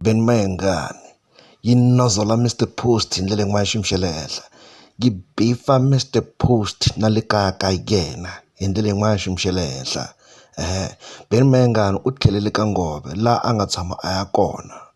Ben Mayengani yi nozola Mister Post hi ndlela yin'wana ya xiyimo xa le henhla yi bifa Mister Post na le kaya ka yena hi ndlela yin'wana ya xiyimo xa le henhla Ben Mayengani u tlhelele ka Nghobe laha a nga tshama a ya kona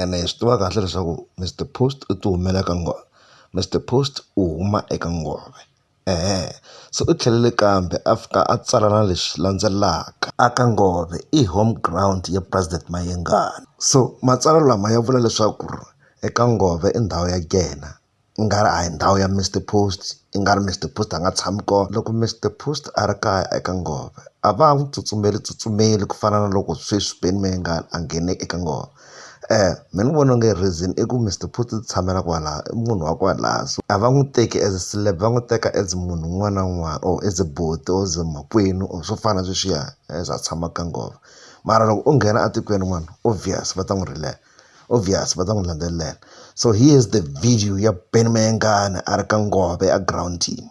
ene hi swi tiva kahle leswaku Mister Post u ti humela ka Mister Post u huma eka nghohe se u tlhelele kambe a fika a tsala na leswi landzelaka a ka nghohe i home ground ya president Mayengani so matsalwa lama ya vula leswaku eka nghohe i ndhawu ya yena. i nga ri a hi ndhawu ya Mister Post i nga ri Mister Post a nga tshami kona loko Mister Post a ri kaya eka nghohe a va ha n'wi tsutsumeli tsutsumeli ku fana na loko sweswi Ben Mayengani a nghene eka nghohe mina ni vona onge reason i ku Mister Post u tshamela kwala i munhu wa kwala so a va n'wi teki as a celeb va n'wi teka as munhu un'wana na un'wana or as buti or as makwenu or swo fana sweswiya as a tshama ka nghohe mara loko o nghena etikweni rin'wana obvious va ta n'wi rilela. obvious va ta n'wi landzelela so he is the video ya ben mayengani a ri ka ngove a ground team